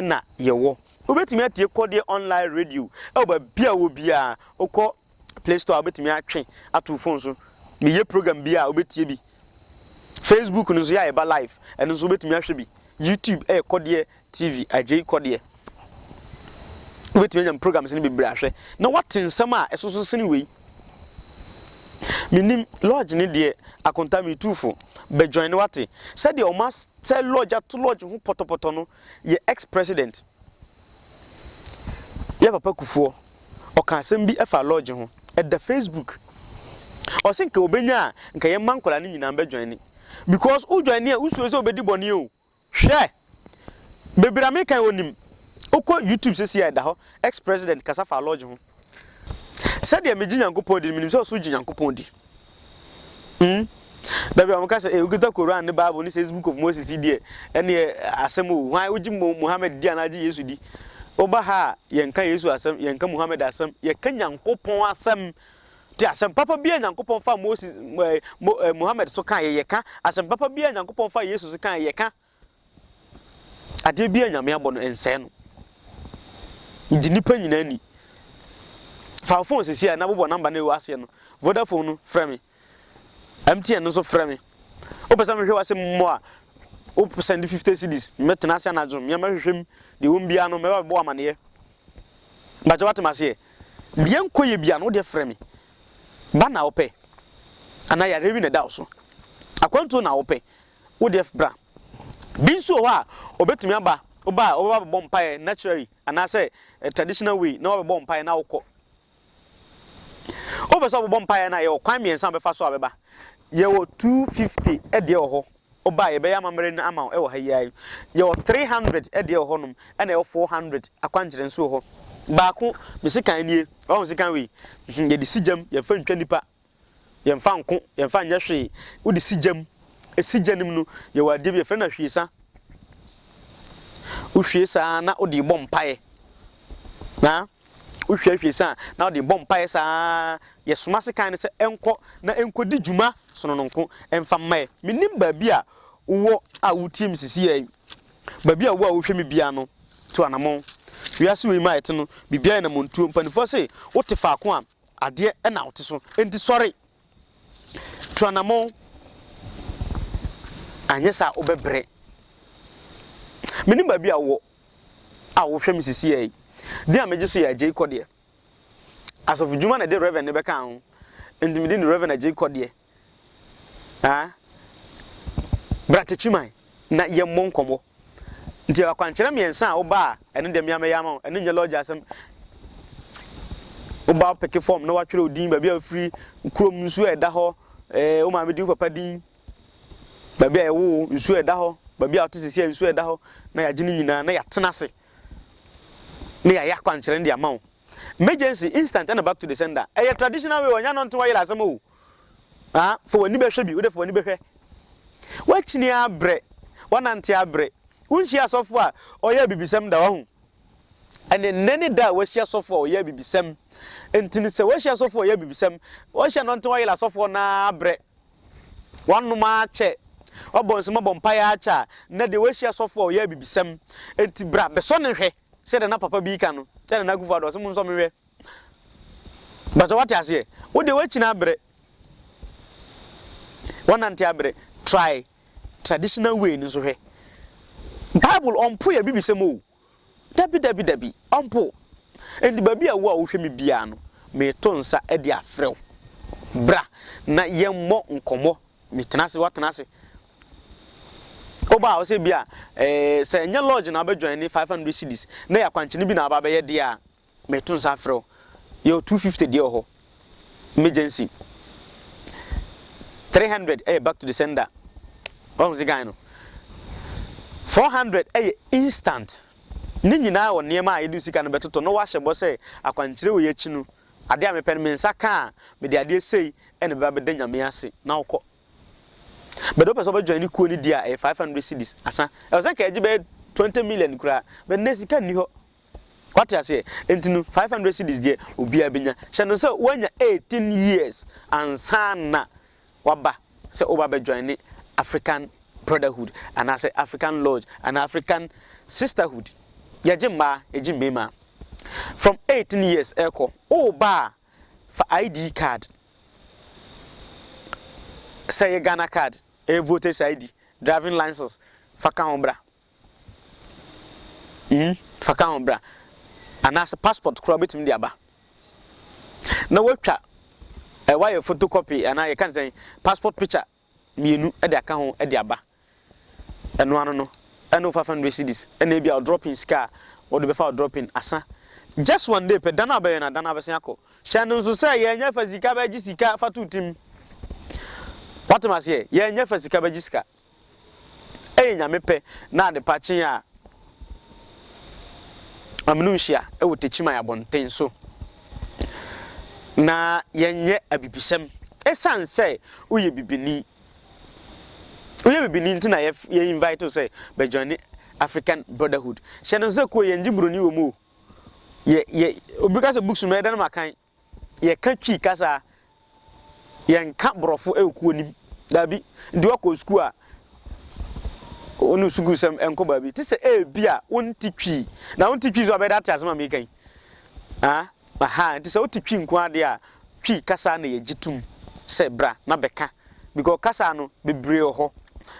Speaker 1: na yɛwɔ. Wobɛtumi atie Kɔdeɛ Online Radio wɔ baabi a wowɔ biara. Wokɔ. play store a wobɛtumi atwe ato wo phone so meyɛ program bi a wobɛtie bi facebook no nso yɛ a ɛba live ɛno nso wobɛtumi ahwɛ bi youtube ɛyɛ kɔdeɛ tv agyei kɔdeɛ wobɛtumi anya program sene bebree ahwɛ na woate nsɛm a ɛsoso sene wei menim lodge ne deɛ akonta metuufo bɛjoin ne wate sɛdeɛ ɔma sɛ lodge ato lodge ho pɔtɔpɔtɔ no yɛ ex president Yɛ papa Kufuor ɔka asɛm bi ɛfa lodge ho ɛda Facebook ɔse nka ɔbɛnya a nka yɛn mma nkwadaa no nyinaa bɛ joine because wo joine a wo suro sɛ ɔbɛdi bɔne o hwɛ bebree a meka yi ɔnim wokɔ YouTube sɛsi a ɛda hɔ ex president kasa fa lodge ho sɛdeɛ megye Nyankopɔn di no menim sɛ ɔso gye Nyankopɔn di. Hmm dabi ɔmo ka sɛ eh okita Koran ne Bible ne Six Book of Moses yi deɛ ɛneɛ asɛm o hwan wogye Mo Mohammed di anaa gye Yesu di woba ha a yɛnka Yesu asɛm yɛnka Mohammed asɛm yɛka Nyankopɔn asɛm te asɛm papa biaa Nyankopɔn faa Moses eh Mo eh Mohammed so kaeɛ yɛka asɛm papa biaa Nyankopɔn faa Yesu so kaeɛ yɛka. Adeɛ biara Nyame abɔ no nsɛe no. Gye nipa nyinaa nni. Fa wo phone sisi a na bobɔ number no a ɛwɔ aseɛ no. Vodafone no frɛ me. MTN no nso frɛ me. Wopɛ sɛ mehwɛ w'asɛm mmɔ a, wo send 50 cedis. Mɛtena ase anadwo, mmea mɛhwehwɛ mu. Deɛ ɛwɔ mu biara no, mɛba bɛbɔ amaneɛ. Mpakyɛ wate m'aseɛ? Deɛ nkɔ yɛ biara no, wo deɛ frɛ me. Ba na wopɛ? Anaa yareɛ bi na ɛda wo so? Akwantuo na wopɛ? wo deɛ bra. Bi nso wɔ hɔ a ɔbɛtumi aba, woba a ɔbɛba abɛbɔ mpaeɛ naturally anaasɛ traditional way na wabɛbɔ mpaeɛ na wokɔ. Wopɛ sɛ ɔbɛbɔ mpaeɛ no a yɛwɔ kwan mmiɛnsa a ɔbɛfa so a bɛba. Yɛwɔ 250 ɛdeɛ wɔ hɔ, woba a yɛbɛyɛ amammerɛ no ama wo wɔ ha yi ara yi. Yɛwɔ 300 ɛdeɛ wɔ hɔnom ɛna yɛwɔ 400 akwankyerɛ nso wɔ hɔ. Baako, me sekan nie, ɔho sekan wei, yɛde si gyam, yɛmfa ntwa nnipa. Yɛmfa nko, yɛmfa nyɛ hwee. Wode si gya mu. Esi gya no mu no, yɛwɔ adeɛ bi, yɛfrɛ no ahwiesa. Wohwie saa na wode rebɔ mpaeɛ. Na wohwie ahwiesa a, na wode rebɔ mpaeɛ saa. Yɛsoma sekan no sɛ ɛnkɔ na ɛnkɔdi dwuma sonononko mfa mma yɛn. Mennim baabi a wowɔ a wotie me sisiiɛ yi. Baabi a wowɔ a wohwɛ me biara no, tu anamɔn. Wiase wei mu a yɛte no, biribiara yɛ namɔntuo. Mpanimfoɔ se, wote faako a, Adeɛ na wote so, enti sɔre! Tu anammɔn, anyɛ saa a wobɛbrɛ. Menim baabi a wowɔ a wohwɛ me sisiiɛ yi. Din a megye so yɛ Agyei Kɔdeɛ. Asɔfodwuma na ɛde Rev. no bɛkaa ho, enti medin de Rev. Agyei Kɔdeɛ. Aa bra Techiman na yɛmmɔ nkɔmmɔ. Nti akwankyerɛ mmiɛnsa a woba a, ɛno deɛ me ara mɛyɛ ama wo. Ɛno nyɛ lɔɔgye asɛm. Woba a wopeke fɔm na woatwerɛ wo din, baabi a wofiri, wo kurom nsuo a ɛda hɔ, eh, wo maame din, wo papa din, baabi a yɛwoo wo, nsuo a ɛda hɔ, baabi a wote seesei a nsuo a ɛda hɔ, na yɛagye ne nyinaa na yɛatena ase na yɛayɛ akwankyerɛ no de ama wo. Emergency, instant ɛna back to the sender. Ɛyɛ traditional way o, ɛnyɛ anɔnte wayera asɛm o. Ah, fa w'ani bɛhwɛ bi, wo de fa w'ani bɛhwɛ. Woakyini abrɛ, woanante abrɛ. Wonhyia asɔfo a ɔyɛ abibisɛm da, wahu? Ɛnde nnɛ ne da a woahyia asɔfo a ɔyɛ abibisɛm. Ntini sɛ woahyia asɔfo a ɔyɛ abibisɛm. Woahyia no ntɛn woayera asɔfoɔ no ara abrɛ. Woanom akyɛ, woabɔ nsɛm abɔ mpaeɛ akyɛ a, nnɛ deɛ woahyia asɔfo a ɔyɛ abibisɛm. Enti bra bɛsɔ no hwɛ. Sɛdeɛ na papa bi ka no, sɛ Nana Akufo Addo, ɔse monsɔ me hwɛ. Mpakyɛ wate aseɛ? Wo deɛ woakyini abrɛ. Woanante abrɛ. Try traditional way no nso hwɛ. Bible ɔmpo yɛ bibisɛm o. Dabi dabi dabi, ɔmpo. Enti baabi a wo a wohwɛ me biara no, meto nsa de afrɛ wo. Bra na yɛmmɔ nkɔmmɔ. Metena ase, woatena ase. Woba a, ɔsɛ bi a, eh, sɛ ɛnyɛ lodge na wobɛdwan ne 500 cedis, na yɛ akwankyene bi na aba bɛyɛ deɛ a, meto nsa frɛ wo. Yɛwɔ 250 deɛ wɔ hɔ, emergency. 300 ɛyɛ back to the sender. Wahu se gan no. 400 ɛyɛ instant. Ne nyinaa wɔ nneɛma a yɛde sika no bɛtoto na wahyɛ bɔ sɛ akwankyerɛ wei akyi no, adeɛ a mepɛ no me nsa ka a, mede adeɛ sei ɛna ɛbɛba abɛda Nyame ase na wokɔ but wopɛ sɛ wobɛ join ne kuo no di a ɛyɛ five hundred cedis asa ɛwɔ sɛ nka ɛgye bɛyɛ twenty million koraa but nnɛ sika nni hɔ wate aseɛ nti no five hundred cedis deɛ obiara bɛnya hyɛ no sɛ woanya eighteen years ansa na waba sɛ woba bɛ join ne African brotherhood anaasɛ African lodge anaa African sisterhood yɛgye mmaa yɛgye mmarima from eighteen years ɛkɔ woba a Fa ID card, sɛ ɛyɛ Ghana card, ɛyɛ voters ID, driving license, fa ka ho bra. Mm, fa ka ho bra. Anaasɛ passport koraa wobɛtumi de aba. Na woatwa, eh, woayɛ photocopy anaa yɛka ne sɛn, passport picture. mmienu de aka ho de aba. Ɛno ano no, ɛne wo five hundred cedis, ɛna ebia wo dropping sika a wode bɛfa wo dropping asa. Just one day pɛ, da no a wobɛwɛn no, da no ara bɛsan akɔ. Hyɛ no nso sɛ, yɛnyɛ fa sika bɛgye sika fa to tim. Woate m'aseɛ? Yɛnyɛ fa sika bɛgye sika. Ɛyɛ Nyame pɛ na adepa kye a, Amino nhyia wɔ Techiman abɔnten so. Na yɛnyɛ abibisɛm. Esiane sɛ woyɛ bibini, woyɛ bibini nti na yɛ invite wo sɛ bɛ joine African Brotherhood. Hyɛ no nso sɛ kuo yɛngye buroni wɔ mu o. Yɛ yɛ obi ka sɛ books no mɛdan no makan. yɛka Twi kasa a, yɛnka Borɔfo wɔ kuo no mu. Daabi. Nti woakɔ sukuu a, wo ne sukuusɛm nkɔ baabi. Te sɛ ebi a wonte Twi, na wonte Twi nso a, bɛyɛ dɛ ate asɛm a meka yi. Ah, aha, nti sɛ wote Twi nko ara deɛ a, Twi kasa na yɛgye tom sɛ bra na bɛka. Because kasa no, bebree wɔ hɔ.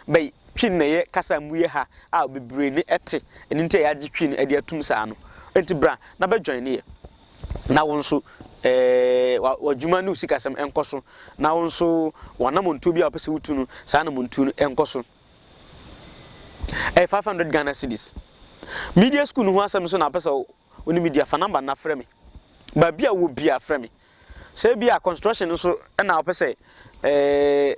Speaker 1: But Twi no na ɛyɛ kasa a emu yɛ ha a bebree ne te. Ɛno nti a yɛagye Twi no de atom saa no. Nti bra na bɛ joine yɛ. na wo nso ɛɛ w'adwuma ne wo sikasɛm nkɔ so na wo nso w'anamɔntuo bi a wɔpɛ sɛ wotu no saa anamɔntuo no nkɔ so ɛyɛ five hundred ghana cedis media school no ho asɛm nso na apɛ sɛ wo ne media fa namba na frɛ me baabi a wɔ bia frɛ me sɛ bi a construction nso ɛna wɔpɛ sɛ ɛɛ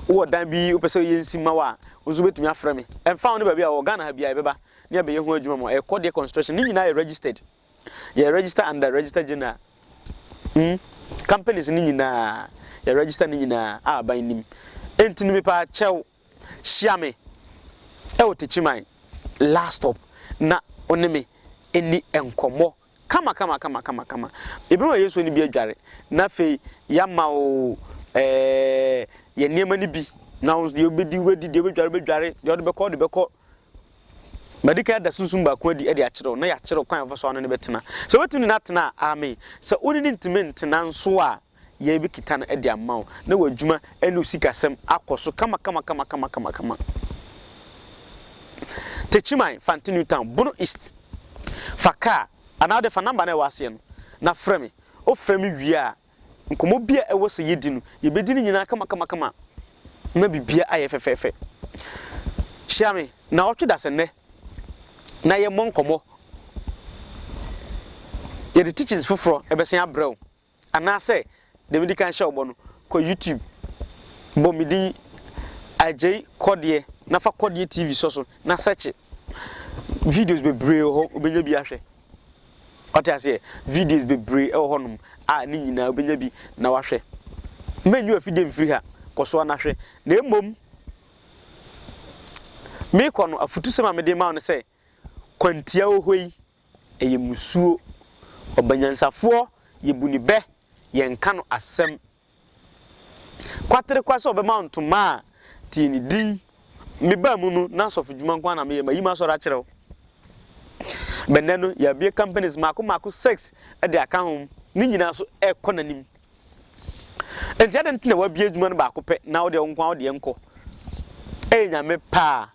Speaker 1: wɔ dan bi wopɛ sɛ yɛ nsi ma wo a wo nso wobɛtumi afrɛ me ɛmfa wo ne baabi a wɔ ghana ha bia yɛbɛba ne abɛyɛ ho adwuma ma ɛkɔ deɛ construction ne nyinaa yɛ registered Yɛ register under Register General mm companies no nyinaa yɛ register no nyinaa a aban nim. Enti no mepaa kyɛw hyia me ɛwɔ Techiman last stop na wo ne me ɛni nkɔmmɔ kama kama kama kama kama. Yɛbɛma Yesu ani bi adware na afei yɛama wo ɛɛ yɛ nneɛma no bi na wo nso deɛ wobɛdi wobɛdi deɛ wobɛdware wobɛdware deɛ wode bɛkɔ wode bɛkɔ. Madi kan ada sunsum baako adi de akyerɛ wo, na yɛakyerɛ wo kwan a yɛbɛfa so a wo ne no bɛtena. Sɛ wobɛtumi ne no atena a, aame. Sɛ wo ne no ntumi ntena nso a, yɛbɛkita no de ama wo, na w'adwuma ne wo sikasɛm akɔ so kamakamakamakama. Techiman, Fante New Town, Bono East. Fa kaa anaa wode fa nɔmba no a ɛwɔ aseɛ no na frɛ me. Wofrɛ me wie a, Nkɔmmɔ bi a ɛwɔ sɛ yedi no, yebedi ne nyinaa kamakamakama ma biribiara ayɛ fɛfɛɛfɛ. Hyia me nnawɔtwe dasennɛ na yɛmmɔ nkɔmmɔ. Yɛde teachings foforɔ bɛsan abrɛ wo. Anaasɛ deɛ medi kan hyɛ wo bɔ no, kɔ YouTube, bɔ me din Agyei Kɔdeɛ na fa Kɔdeɛ TV sɔ so na sɛkye. Videos bebree wɔ hɔ, wobɛnya bi ahwɛ. Wate aseɛ? Videos bebree wɔ hɔnom a ne nyinaa wobɛnya bi na wahwɛ. Mɛnyi w'afidie mfiri ha, kɔ so ara na hwɛ. Na mmom, merekɔ no, afutusɛm a mede rema wo ne sɛ, kwantia wɔ hɔ yi, ɛyɛ mmusuo. Ɔbanyansafoɔ, yɛbu ne bɛ, yɛnka no asɛm Kwatere kwa sɛ ɔbɛma wo ntoma a, tie ne din. Mebaa mu no, na asɔfodwuma nko ara na meyɛ. Mayi m'asɔre akyerɛ wo. Bɛnnɛ no, yɛabue companies mmaako mmaako six de aka ho. Ne nyinaa so rekɔ n'anim. Enti adɛn nti na woabue adwuma no baako pɛ na wo deɛ wo nko ara wo deɛ nkɔ? Ɛyɛ Nyame pɛ a,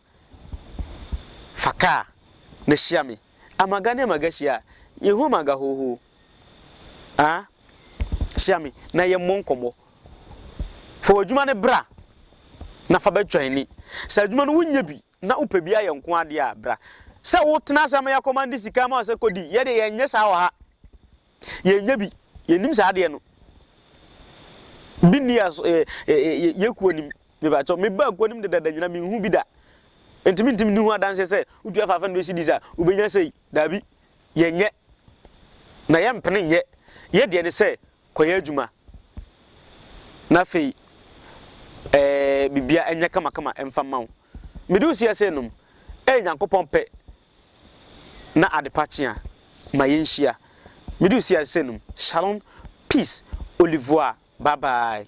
Speaker 1: fa kaa na hyia me. amaga ne amaga hyia a, yehu amaga hoohoo. Aa, hyia me na yɛmmɔ nkɔmmɔ. Fa w'adwuma no bra na fa bɛtwa ani. Sɛ adwuma no wonyɛ bi na wopɛ bi ayɛ nko ara deɛ a, bra. Sɛ wotena ase ama yɛakɔmande sika ama wo sɛ kɔdi, yɛn deɛ yɛnyɛ saa wɔ ha. Yɛnyɛ bi, yɛnnim saa adeɛ no. Bi nni yɛn so, yɛn kuo nim. Me ba kyɛw, me ba nko nim dedaada nyinaa, me nhu bi da. Enti me ntimi nni ho adanseɛ sɛ, wotua faafa ndoɛ cedis a, wobɛnya sei. Daabi, yɛ nyɛ. Na yɛ mpene nyɛ. Yɛ deɛ ne sɛ, kɔ yɛ adwuma. Na afei, ɛɛ, bibia ɛnyɛ kama kama ɛmfa mma wo. Me de wo si ɛsɛ nom, ɛyɛ Nyankopɔn pɛ na adepa kye a, ma yɛ nhyia. Me de wo si ɛsɛ nom, shalom, peace, olivuaa, bye bye.